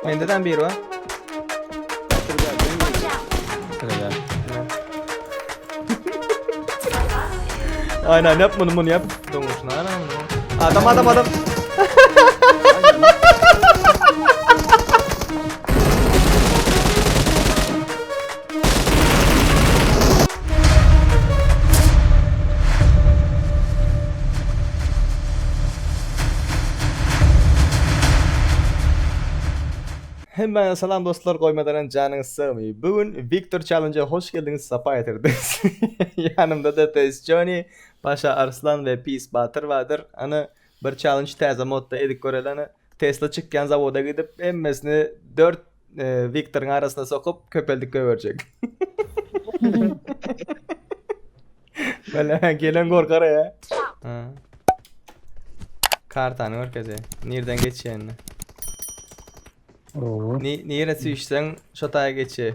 Mende de bir var. Aynen yap bunu bunu yap. Donuşun aynen bunu. Adam adam adam. Hemmäňize salam dostlar, goýmadanam janyňyz sagmy? Bu gün Victor Challenge-e hoş geldiňiz, sapa getirdiňiz. Ýanymda-da Pes Joni, Paşa Arslan we Pis Batyr bardyr. Ana, bir challenge täze modda edip göreli, ana. Tesla çykýan zawoda gidip hemmesini dört Viktoryň arasyna sokup köpeldip göberjek. Bele gelen gorkar ya. Ha. Kartany görkeze. Nereden geçýänini. Oo. Ni nire süýşseň şo taýa geçe.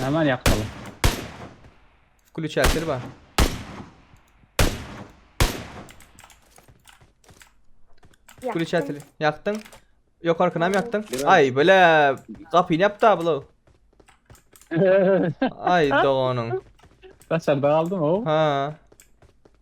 Näme bar ýakmaly? Klüçatel bar. Klüçatel ýakdyň. Ýokarkyny hem ýakdyň. Aý, bile gapyny ýapda bula. Aý doganyň. Daşarda galdym o. Ha.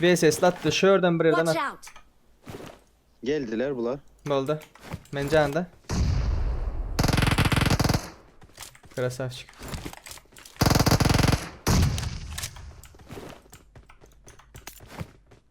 VSS latdy şu ýerden bir ýerden Watch at. out! Geldiler bular. Boldy. Men janda. Krasavçik.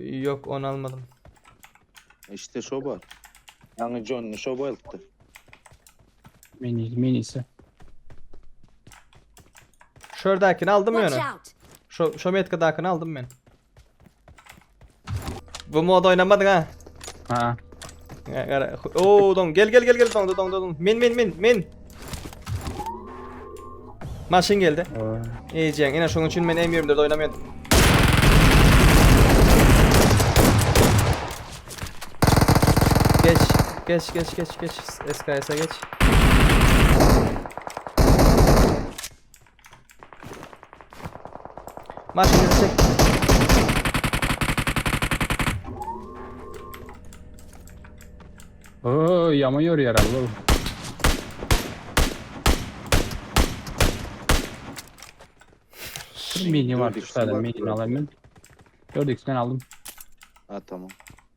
Yok onu almadım. İşte şo bar. Ýaňy Johnny şo bolupdy. Meni, meni ise. Şuradakini aldım Watch yani. out! Şu, şu metkadakini aldım ben. Bu mod oynamadın ha. Ha. Ya, ya, Oo don gel gel gel gel don don don. Min min min min. Maşyn geldi. Ejeň, ene şonuň üçin men M24 oynamayan. Geç, geç, geç, geç, geç. SKS'e geç. Maşyny çek. Oo, ýaman ýörýär abi bu. Bir mini var, üç tane mini alayım ben. Dört x'den aldım. Ha tamam.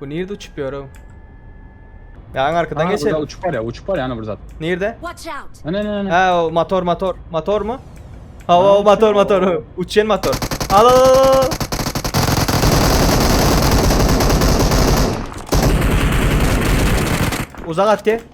Bu nerede uçup yürü? Ya en arkadan Aha, geçelim. uçup var ya uçup var ya ana burada. Nerede? Watch out! Ne ne ne. Ha o motor motor. Motor mu? Ha o, o motor motor. Uçan motor. Al al al al. Uzak at gel.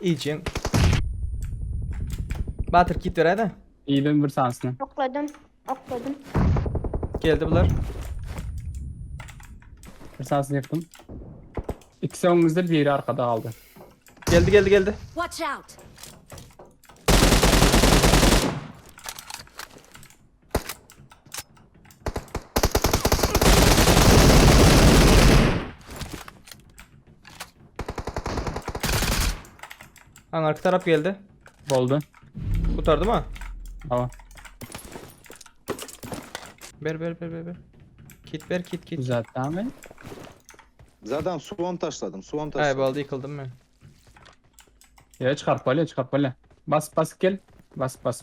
Iýjin. Batyr kit beräýdä. Iýdim bir sanysyny. Okladym. Okladym. Geldi bular. Bir sanysyny ýykdym. İkisi öňümizde biri arkada galdy. Geldi geldi geldi. Watch out! Hangarki tarap geldi. Boldy. Kurtardı mı? Tamam. Ber ber ber ber ber. Kit ber kit kit. Güzel tamam. Zaten suwan taşladım. Suwan Ay taşladım. baldı yıkıldım ben. Ya çıkartmalı çıkartmalı. Bas bas gel. Bas bas.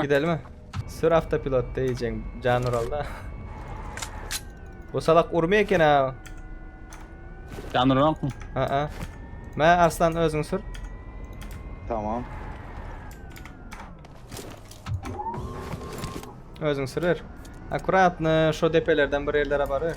Gidelimi? Sür avtopilot deýjeň jan uralda. Bu salak urmy eken ha? Jan uranokmy? Aa. Mä Arslan özüň sür. Tamam. Özüň sürür. Akkuratny şo depelerden bir yerlere barýar.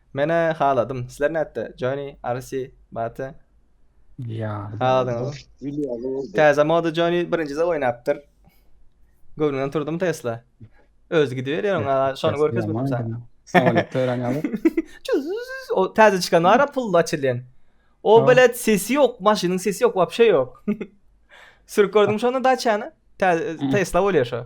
Menä haladym. Sizler nätde? Johnny, Arsi, Bate. Ýa. Haladyňyzmy? Täze moda Johnny birinjide oýnapdyr. Göwnüňden turdumy Tesla? Özi gidiberýär oňa, şony görkezmedim saňa. Samolet töräni alyp. O täze çykan bar pully açylýan. O Ha. belet sesi ýok, maşynyň sesi ýok, wapşe ýok. Sürüp gördüňmi şony daçany? Tä- Tesla bolýar şo.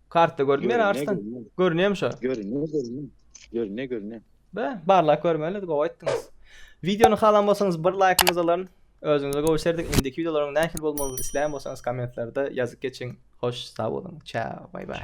Kartda görünýär Görünýär, Arslan. görünýär. Görünýärmi şo? Görünýär, görünýär. Görünýär, görünýär. Be, barlap görmeli, gowy aýtdyňyz. Wideony halan bolsaňyz bir laýkyňyzy alaryn. Özüňize gowy serdin. Indiki wideolaryň nähili bolmagyny isleýän bolsaňyz kommentlerde ýazyp geçiň. Hoş, sag boluň. Çäo, baý baý.